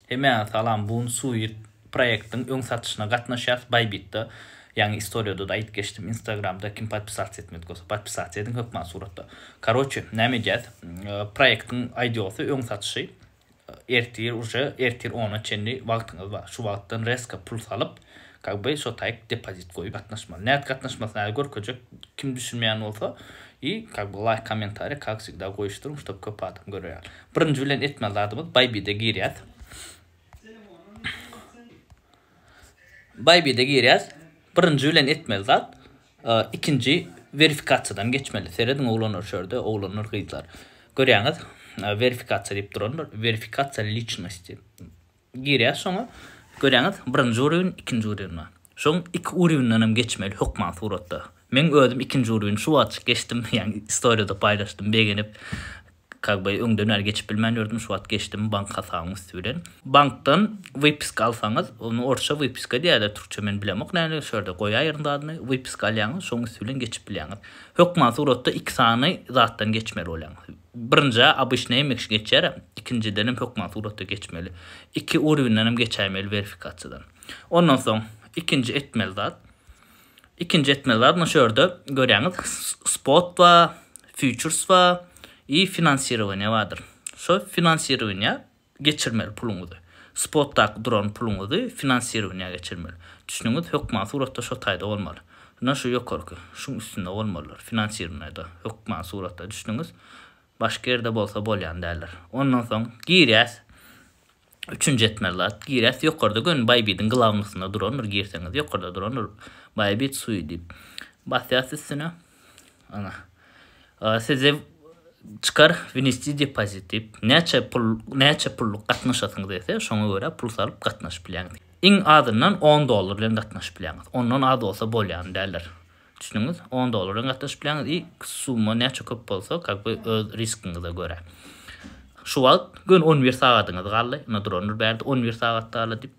Hemäňe salam bun suit proýektiň öň satyşyna gatnaşýas baýbitde ýaňy istoriýadada aýdyp geçdim instagramda kim podpisats etmedik bolsa podpisats ediň hökman suratda karoçe näme edýäs proýektiň aýdiosy öň satyşy ertir uje ertir ona çenli wagtyňyz bar şu wagtdan reska pul salyp kak by şo taýk depozit goýup gatnaşmaly nädip gatnaşmasyny häzir görkezjek kim düşünmeýän bolsa i kak by laýk kommentariý kak wsegda goýuşdyryň ştob köp adam görýär Birinji bilen etmeli zadymyz Bybit-e girýäs. Bybit-e girýäs. Birinji bilen etmeli zat e, ikinji verifikasiýadan geçmeli. Serediň oglanlar şu ýerde, oglanlar, gyzlar. Görýäňiz, e, verifikasiýa diýip durandyr. Verifikasiýa liçnosti. Girýäs şoňa. Görýäňiz, birinji urwin, ikinji urwin bar. Şoň iki urwindenem geçmeli hökman suratda. Meň özüm ikinji urwini şu wagtjyk geçdim, ýagny istoriýada paýlaşdym, begenip, kak be öňden bäri geçip bilmän ýördüm, şu wagt geçdim bank hasabyň üsti bilen. Bankdan wypiska alsaňyz, ony orsça wypiska diýýärler, türkçe men bilemok nädip, şu ýerde goýaýryn zadyny, wypiska alýaňyz, şoň üsti bilen geçip bilýäňiz. Hökman suratda iki sany zatdan geçmeli bolýaňyz. Birinjä obýçnaý emekçi geçer, ikinjidenem hökman suratda geçmeli. Iki urwindenem geçäýmeli werfikasiýadan. Ondan soň ikinji etmeli zat, ikinji etmeli zat munşo ýerde görýäňiz spot bar, futurys bar i finansirowaniýa bardyr. Şo finansirowaniýa geçirmeli puluňyzy, spotdaky duran puluňyzy finansirowaniýa geçirmeli. Düşnügiňiz hökman suratda şo taýda bolmaly. Ynha şu ýokarky, şuň üstünde bolmalydyr, finansirowaniýada, hökman suratda düşnügiňiz başga ýerde bolsa bolýan däldir. Ondan soň girýäs, üçünji etmeli zat, girýäs ýokarda göni Bybit-iň glawnosynda durandyr, girseňiz ýokarda durandyr, Bybit sui diýip. Basýas üstüne. Ana. Size çykar wnisti depozit diýip, näçe pul, näçe pulluk gatnaşasyňyz etse, şoňa görä pul salyp gatnaşyp bilýäňiz. Iň azyndan on dollar bilen gatnaşyp bilýäňiz. Ondan az bolsa bolýany däldir. Düşündiňiz? On dollar bilen gatnaşyp bilýäňiz i summa näçe köp bolsa, как бы öz riskiňize görä. Şu wagt göni on bir sagadyňyz galdy. Ine durandyr bärde on bir sagat galdy diýip.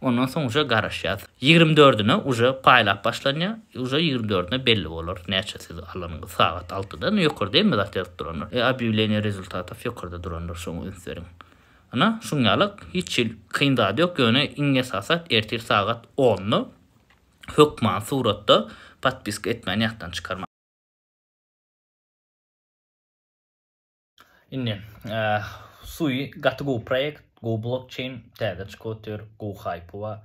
Ondan soň uje garaşýas. Ýigrimi dördüne uje paýlap başlanýar. Uje ýigrimi dördüne belli bolar näçe siz alanyňyz sagat altyda. Ine ýokarda hemme zat ýazyp durandyr. E obýawleniýe rezultatow ýokarda durandyr şoňa üns beriň. Ine şuň ýaly hiç hil kyn zady ýok ýöne iň esasy zat ertir sagat onda hökman suratda podpiska etmäni ýatdan çykarmaň. Indi, Sui gaty gowy proýekt, gowy blokçeýn, täze çykyp otyr, gowy haýpy bar.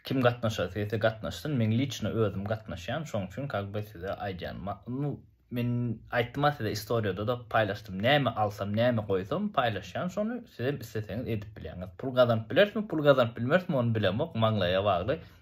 Kim gatnaşasy gelse gatnaşsyn, men liçno özüm gatnaşýan, şoň üçin kak be size aýdýan. Nu, men aýtdym-a size istoriýada-da paýlaşdym, näme alsam, näme goýsam, paýlaşýan şony, sizem isleseňiz edip bilýäňiz. Pul gazanyp bilerismi, pul gazanyp bilmerismi, ony bilemok, maňlaýa bagly.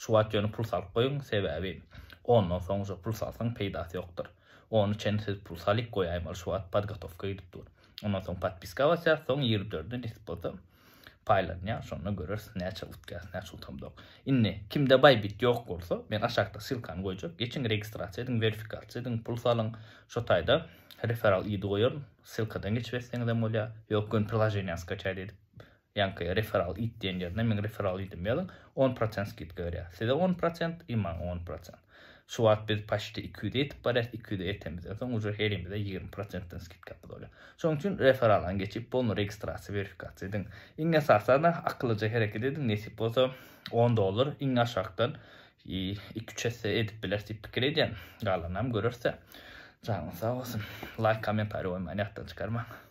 Şu wagt ýöne pul salyp goýuň, sebäbi ondan soňja pul salsaň peýdasy ýokdur. Ony çen siz pul salyp goýaýmaly şu wagt podgotowka gidip dur. Ondan soň podpiska basýas, soň ýigrimi dörde nesip bolsa paýlanýar, şonda göreris näçe utýas, näçe utamzok. Indi kimde Bybit ýok bolsa, men aşakda ssylkany goýjak, geçiň registrasiýa ediň, werfikasiýa ediň, pul salyň, şo taýda referal ID goýaryn, ssylkadan geçip etseňizem bolýar, ýok göni priloženiýany skaçaýda edip Ýaňky referral it diýen ýerine meň referral idim ýazyň, on prosent skidka berýär. Size on prosent i maňa on prosent. Şu wagt biz paçte iki ýüze ýetip barýas, iki ýüze ýeten bizden soň uje herimize ýigrimi prosentden skidkamyz bolýar. Şonuň üçin referalaň geçip bolny registrasiýa werifikasyýa ediň. Iň esasana akyllyja hereket ediň nesip bolsa on dollar iň aşakdan iki üç esse edip bileris diýip pikir edýän. Galanynam görersä. Janyňyz sag bolsun. Laýk kommentariý goýmaň ýatdan çykarmaň.